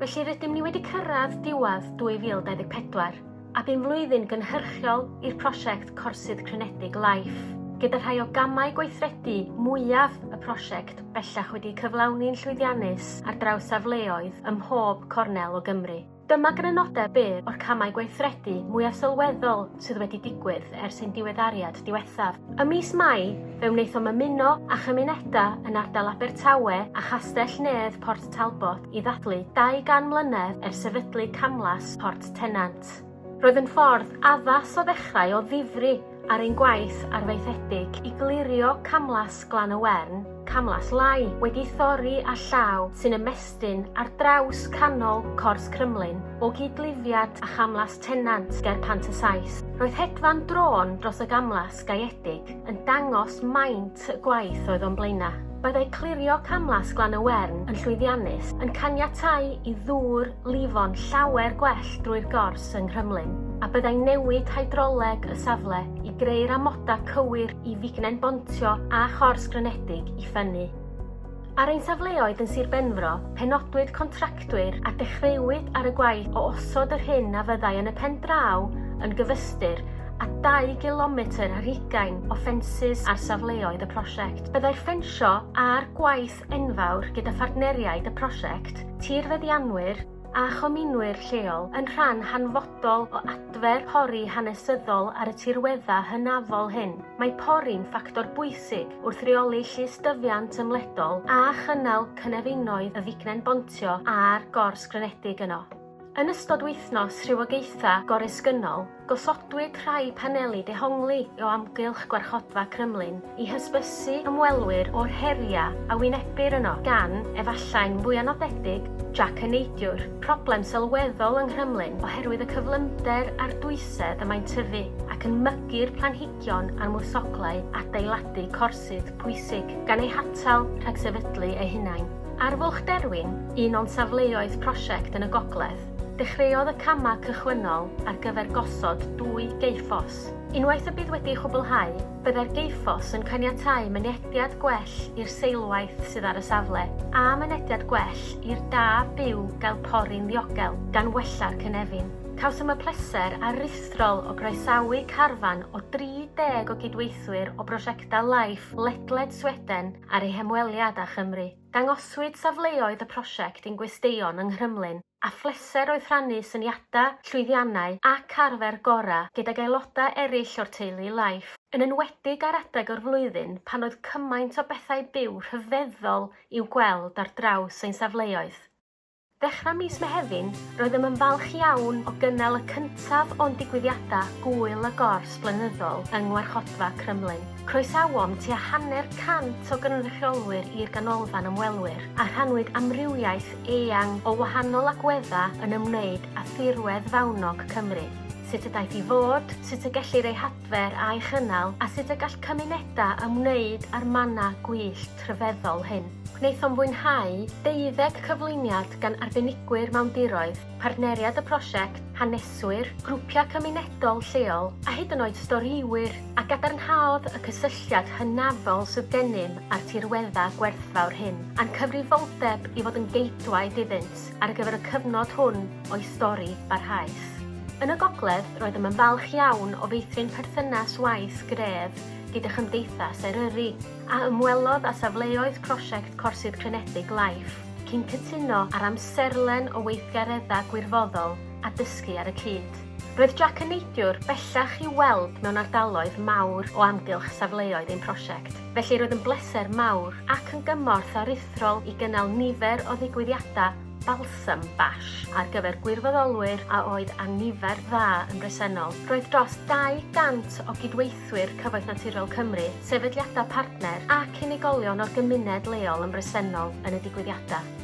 Felly rydym ni wedi cyrraedd diwedd 2024 a bu'n flwyddyn gynhyrchiol i'r prosiect Corsydd Crenedig Life, gyda rhai o gamau gweithredu mwyaf y prosiect bellach wedi cyflawni'n llwyddiannus ar draws safleoedd ym mhob cornel o Gymru. Dyma grynodeb byr o'r camau gweithredu mwyaf sylweddol sydd wedi digwydd ers ein diweddariad diwethaf. Ym mis Mai, fe wnaethom ymuno â chymunedau yn ardal Abertawe a Chastell Nedd Port Talbot i ddathlu 200 mlynedd ers sefydlu Camlas Port Tennant. Roedd yn ffordd addas o ddechrau o ddifri ar ein gwaith arfaethedig i glirio Camlas Glan y Wern, Camlas Lai, wedi thorri â llaw sy'n ymestyn ar draws canol Cors Crymlyn, o gyd-lifiad â Chamlas Tennant ger Pant-y-Sais. Roedd hedfan drôn dros y gamlas gaeedig yn dangos maint lot y gwaith oedd o'n Blaenau. Byddai clirio camlas Glan y Wern yn llwyddiannus yn caniatáu i ddŵr lifo'n llawer gwell drwy'r gors yng Nghrymlyn, a byddai newid hydroleg y safle i greu'r amodau cywir i fignen bontio a chors grynedig i ffynnu. Ar ein safleoedd yn Sir Benfro, penodwyd contractwyr a dechreuwyd ar y gwaith o osod yr hyn a fyddai yn y pen draw yn gyfystyr a 2 gilometr ar hugain o ffensys ar safleoedd y prosiect. Byddai'r ffensio a'r gwaith enfawr gyda phartneriaid y prosiect, tirfeddianwyr, a chominwyr lleol yn rhan hanfodol o adfer pori hanesyddol ar y tirweddau hynafol hyn. Mae pori'n ffactor bwysig wrth reoli llystyfiant ymledol a chynnal cynefinoedd y fignen bontio a'r gors grynedig yno. Yn ystod wythnos rhywogaethau goresgynnol, Gosodwyd rhai paneli dehongli o amgylch Gwarchodfa Crymlyn i hysbysu ymwelwyr o'r heriau a wynebir yno, gan, efallai'n fwya nodedig, Jac y Neidiwr, problem sylweddol yng Nghrymlyn oherwydd y cyflymder a'r dwysedd y mae'n tyfu ac yn mygu'r planhigion a'r mwsoglau adeiladu corsydd pwysig, gan eu hatal rhag sefydlu eu hunain. Arfwlch Derwin, un o'n safleoedd prosiect yn y gogledd. Dechreuodd y camau cychwynnol ar gyfer gosod dwy geufforce. Unwaith y bydd wedi ei chwblhau, byddai'r geufforce yn caniatáu mynediad gwell i'r seilwaith sydd ar y safle, a mynediad gwell i'r da byw gael pori'n ddiogel, gan wella'r cynefin. Cawsom y pleser aruthrol o groesawu carfan o 30 o gydweithwyr o brosiectau Life ledled Sweden ar eu hymweliad â Chymru. Dangoswyd safleoedd y prosiect i'n gwesteion yng Nghrymlyn a phleser oedd rhannu syniadau, llwyddiannau ac arfer gorau gydag aelodau eraill o'r teulu Life, yn enwedig ar adeg o'r flwyddyn pan oedd cymaint o bethau byw rhyfeddol i'w gweld ar draws ein safleoedd. Ddechrau mis Mehefin, roeddem yn falch iawn o gynnal y cyntaf o'n digwyddiadau Gŵyl y Gors blynyddol yng Ngwarchodfa Crumlin. Croesawom tua hanner cant o gynrychiolwyr i'r Ganolfan Ymwelwyr, a rhannwyd amrywiaeth eang o wahanol agweddau yn ymwneud â thirwedd fawnog Cymru, sut y daeth i fod, sut y gellir ei adfer a'i chynnal a sut y gall cymunedau ymwneud â'r mannau gwyllt rhyfeddol hyn. Gwnaethom fwynhau deuddeg cyflwyniad gan arbenigwyr mewn diroedd, partneriaid y prosiect, haneswyr, grwpiau cymunedol lleol a hyd yn oed storïwyr, a gadarnhaodd y cysylltiad hynafol sydd gennym â'r tirweddau gwerthfawr hyn a'n cyfrifoldeb i fod yn geidwaid iddynt. ar gyfer y cyfnod hwn o'i stori barhaus. Yn y gogledd, roeddem yn falch iawn o feithrin perthynas waith gref gyda Chymdeithas Eryri, a ymwelodd â safleoedd prosiect Corsydd Crenedig Life, cyn cytuno ar amserlen o weithgareddau gwirfoddol a dysgu ar y cyd. Roedd Jac yn neidiwr bellach i'w weld mewn ardaloedd mawr o amgylch safleoedd ein prosiect. Felly roedd yn bleser mawr ac yn gymorth aruthrol i gynnal nifer o ddigwyddiadau Balsam Bash ar gyfer gwirfoddolwyr a oedd â nifer dda yn bresennol. Roedd dros 200 o gydweithwyr Cyfoeth Naturiol Cymru, sefydliadau partner ac unigolion o'r gymuned leol yn bresennol yn y digwyddiadau.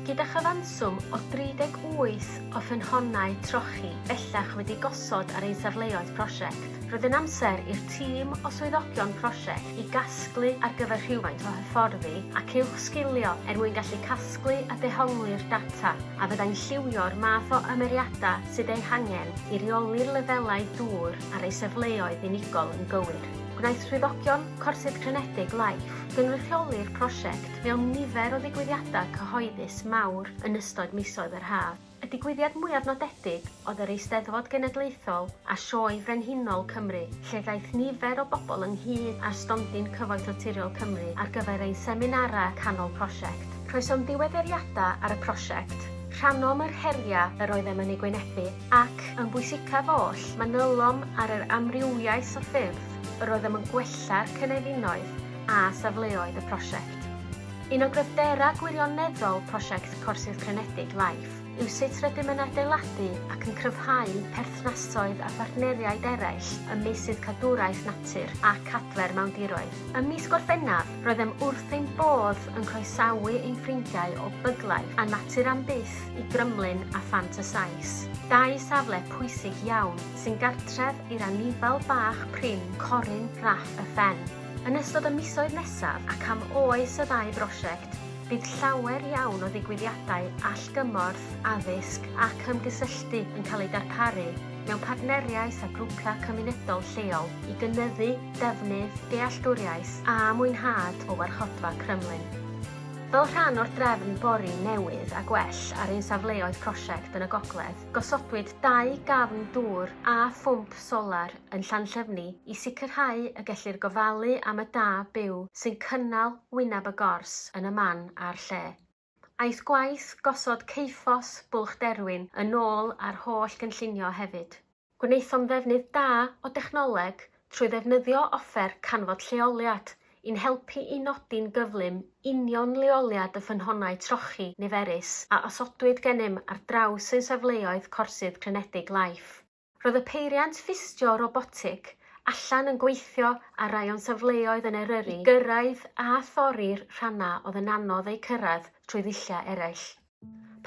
Gyda chyfanswm o 38 o ffynhonnau trochi bellach wedi gosod ar ein safleoedd prosiect, Roedd yn amser i'r tîm o swyddogion prosiect i gasglu ar gyfer rhywfaint o hyfforddi ac uwchsgilio er mwyn gallu casglu a dehongli'r data a fyddai'n lliwio'r math o ymyriadau sydd eu hangen i reoli'r lefelau dŵr ar eu safleoedd unigol yn gywir. Gwnaeth swyddogion Corsydd Crenedig Life gynrychioli'r prosiect mewn nifer o ddigwyddiadau cyhoeddus mawr yn ystod misoedd yr haf. Y digwyddiad mwyaf nodedig oedd yr Eisteddfod Genedlaethol a Sioe Frenhinol Cymru, lle ddaeth nifer o bobl ynghyd â'r stondin Cyfoeth Naturiol Cymru ar gyfer ein seminarau canol prosiect. Croesom ddiweddariadau ar y prosiect, rhannom yr heriau yr oeddem yn eu gwynebu ac, yn bwysicaf oll, manylom ar yr amrywiaeth o ffyrdd yr oeddem yn gwella'r cynefinoedd a safleoedd y prosiect. Un o gryfderau gwirioneddol prosiect Corsydd Crynedig, LIFE, yw sut rydym yn adeiladu ac yn cryfhau perthnasoedd â phartneriaid eraill ym meysydd cadwraeth natur ac adfer mawndiroedd. Ym mis Gorffennaf, roeddem wrth ein bodd yn croesawu ein ffrindiau o Buglife a Natur am Byth i Grymlyn a Phant y Sais, dau safle pwysig iawn sy'n gartref i'r anifail bach prin corun raff y ffen. Yn ystod y misoedd nesaf ac am oes y ddau brosiect, bydd llawer iawn o ddigwyddiadau allgymorth, addysg ac ymgysylltu yn cael eu darparu mewn partneriaeth â grwpiau cymunedol lleol i gynyddu defnydd, dealltwriaeth a mwynhad o Warchodfa Crymlyn. Fel rhan o'r drefn bori newydd a gwell ar ein safleoedd prosiect yn y gogledd, gosodwyd dau gafn dŵr a phwmp solar yn Llanllyfni i sicrhau y gellir gofalu am y da byw sy'n cynnal wyneb y gors yn y man a'r lle. Aeth gwaith gosod Ceiffos Bwlch Derwin yn ôl a'r holl gynllunio hefyd. Gwnaethom ddefnydd da o dechnoleg trwy ddefnyddio offer canfod lleoliad i'n helpu i nodi'n gyflym union leoliad y ffynhonnau trochi niferus a osodwyd gennym ar draws ein safleoedd corsydd clinedig Life. Roedd y peiriant ffistio robotig allan yn gweithio ar rai o'n safleoedd yn Eryri i gyrraedd a thorri'r rhannau oedd yn anodd eu cyrraedd trwy ddulliau eraill.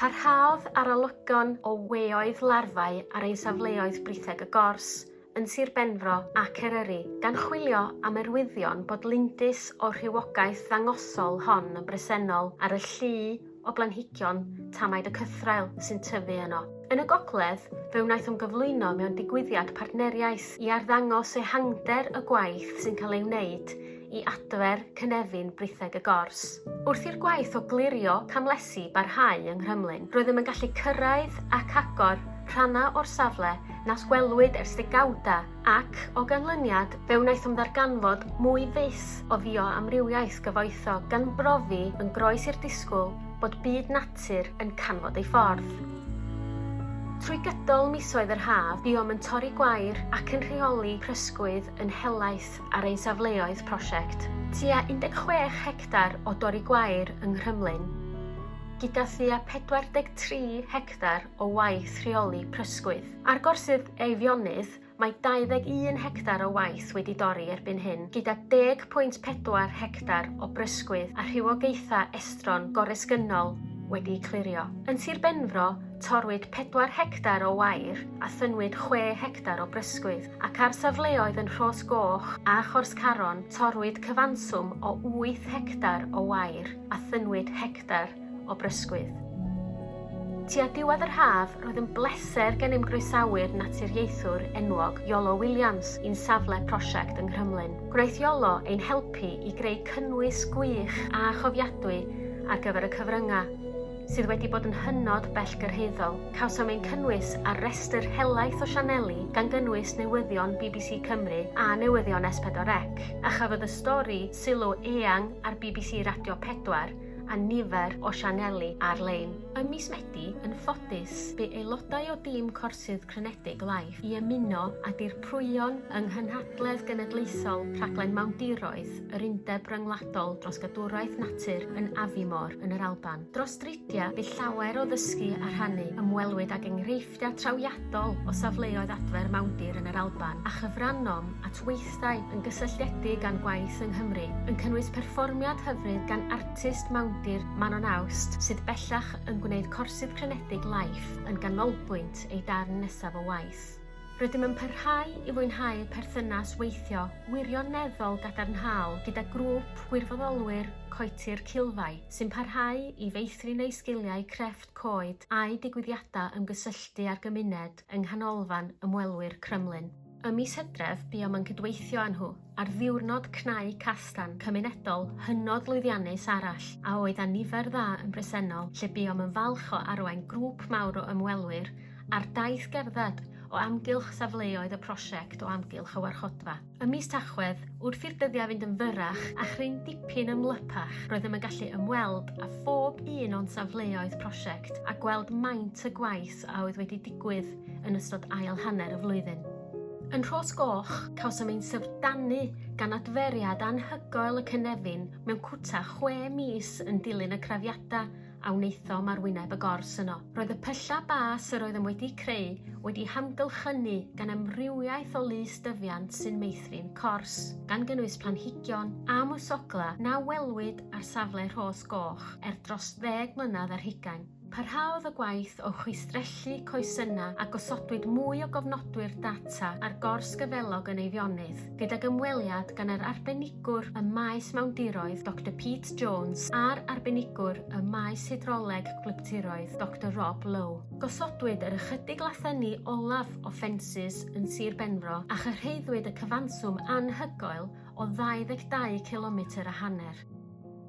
Parhaodd arolygon o weoedd larfau ar ein safleoedd Britheg y Gors, yn Sir Benfro ac Eryri, gan chwilio am arwyddion bod lindys o'r rhywogaeth ddangosol hon yn bresennol ar y llu o blanhigion tamaid y cythraul sy'n tyfu yno. Yn y gogledd, fe wnaeth ymgyflwyno mewn digwyddiad partneriaeth i arddangos ehangder y gwaith sy'n cael ei wneud i adfer cynefin britheg y gors. Wrth i'r gwaith o glirio camlesi barhau yng Nghrymlyn, roeddem yn gallu cyrraedd ac agor rhannau o'r safle nas gwelwyd ers degawdau Ac, o ganlyniad, fe wnaethom ddarganfod mwy fis o fioamrywiaeth gyfoethog gan brofi yn groes i'r disgwyl bod byd natur yn canfod ei ffordd. Trwy gydol misoedd yr haf, buom yn torri gwair ac yn rheoli prysgwydd yn helaeth ar ein safleoedd prosiect. Tua 16 hectar o dorri gwair yng Nghrymlyn, gyda thua 43 hectar o waith rheoli prysgwydd. Ar gorsydd Eifionydd, mae 21 hectar o waith wedi dorri erbyn hyn, gyda 10.4 hectar o brysgwydd a rhywogaethau estron goresgynnol wedi'u clirio. Yn Sir Benfro, torwyd 4 hectar o wair a thynnwyd 6 hectar o brysgwydd, ac ar safleoedd yn Rhos Goch a Chors Caron torwyd cyfanswm o 8 hectar o wair a thynnwyd hectar o brysgwydd. Tua diwedd yr haf, roedd yn bleser gennym groesawu'r naturiaethwr enwog Iolo Williams i'n safle prosiect yng Nghrymlyn. Gwnaeth Iolo ein helpu i greu cynnwys gwych a chofiadwy ar gyfer y cyfryngau, sydd wedi bod yn hynod bellgyrhaeddol. Cawsom ein cynnwys ar restr helaeth o sianeli, gan gynnwys newyddion bbc Cymru a newyddion S4C, a chafodd y stori sylw eang ar bbc Radio 4, a nifer o sianeli ar-lein. Ym mis Medi, yn ffodus, bu aelodau o dîm corsydd crynedig Life i ymuno â dirprwyon yng Nghynhadledd Genedlaethol Rhaglen Mawndiroedd yr Undeb Ryngwladol dros Gadwraeth Natur yn Aviemore yn yr Alban. Dros dridiau, bu llawer o ddysgu a rhannu, ymwelwyd ag enghreifftiau Cysylltiad trawiadol o safleoedd adfer mawndir yn yr Alban a chyfrannom at weithdai yn gysylltiedig â'n gwaith yng Nghymru, yn cynnwys perfformiad hyfryd gan artist mawndir Manon Awst sydd bellach yn gwneud corsydd clinedig Life yn ganolbwynt ei darn nesaf o waith. Rydym yn parhau i fwynhau perthynas weithio wirioneddol gadarnhaol gyda grŵp gwirfoddolwyr Coetir Cilfai sy'n parhau i feithrin eu sgiliau crefft, coed a'u digwyddiadau ymgysylltu â'r gymuned yng Nghanolfan Ymwelwyr Crymlyn. Ym mis Hydref buom yn cydweithio â nhw ar ddiwrnod cnau castan cymunedol hynod lwyddiannus arall a oedd â nifer dda yn bresennol lle buom yn falch o arwain grŵp mawr o ymwelwyr ar daith gerdded o amgylch safleoedd y prosiect o amgylch y warchodfa. Ym mis Tachwedd, wrth i'r dyddiau fynd yn fyrrach a chryn dipyn ymlypach, roeddem yn gallu ymweld â phob un o'n safleoedd prosiect a gweld maint y gwaith a oedd wedi digwydd yn ystod ail hanner y flwyddyn. Yn Rhos Goch, cawsom ein syfrdanu gan adferiad anhygoel y cynefin mewn cwta chwe mis yn dilyn y crafiadau a wnaethom ar wyneb y gors yno. Roedd y pyllau bas yr oeddem wedi'u creu wedi'u hamgylchynu gan amrywiaeth o lys dyfiant sy'n meithrin cors, gan gynnwys planhigion a mwsoglau na welwyd ar safle Rhos Goch er dros ddeg mlynedd ar hugain. Parhaodd y gwaith o chwistrellu coesynnau a gosodwyd mwy o gofnodwyr data ar gors gyfelog yn Eifionydd. gydag ymweliad gan yr arbenigwr ym maes mawndiroedd, Doctor Pete Jones, a'r arbenigwr ym maes hydroleg gwlyptiroedd, Doctor Rob Lowe. Gosodwyd yr ychydig lathenni olaf o ffensys yn Sir Benfro a chyrhaeddwyd y cyfanswm anhygoel o 22 cilometr a hanner.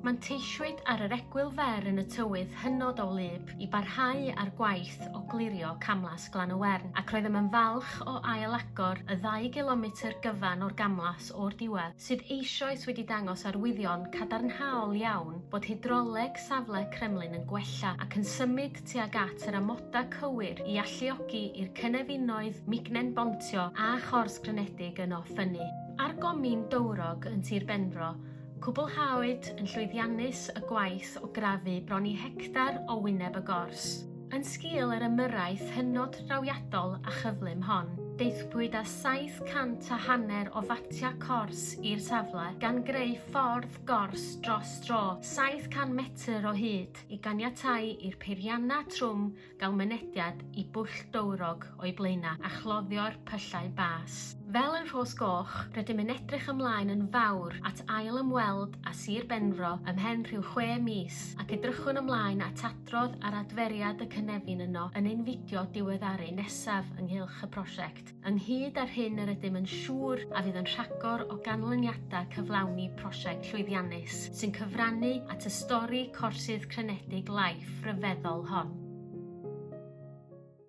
Manteisiwyd ar yr egwyl fer yn y tywydd hynod o wlyb i barhau â'r gwaith o glirio camlas Glan-y-wern ac roeddem yn falch o ail-agor y ddau gilometr gyfan o'r gamlas o'r diwedd, sydd eisoes wedi dangos arwyddion cadarnhaol iawn bod hydroleg safle Kremlin yn gwella ac yn symud tuag at yr amodau cywir i alluogi i'r cynefinoedd mignen bontio a chors grynedig yno ffynnu. Ar gomin dowrog yn Tir Benfro, Cwblhawyd yn llwyddiannus y gwaith o grafu bron i hectar o wyneb y gors. Yn sgil yr ymyrraeth hynod drawiadol a chyflym hon, daethpwyd â 700 a hanner o fatiau cors i'r safle, gan greu ffordd gors dros dro 700 metr o hyd i ganiatáu i'r peiriannau trwm gael mynediad i bwll dowrog o'i blaenau a chloddio'r pyllau bas. Fel yn Rhos Goch, rydym yn edrych ymlaen yn fawr at ail ymweld â Sir Benfro ymhen rhyw chwe mis ac edrychwn ymlaen at adrodd ar adferiad y cynefin yno yn ein fideo diweddaru nesaf ynghylch y prosiect. ynghyd â'r hyn yr ydym yn siŵr a fydd yn rhagor o ganlyniadau cyflawni prosiect llwyddiannus sy'n cyfrannu at y stori corsydd crenedig Life ryfeddol hon.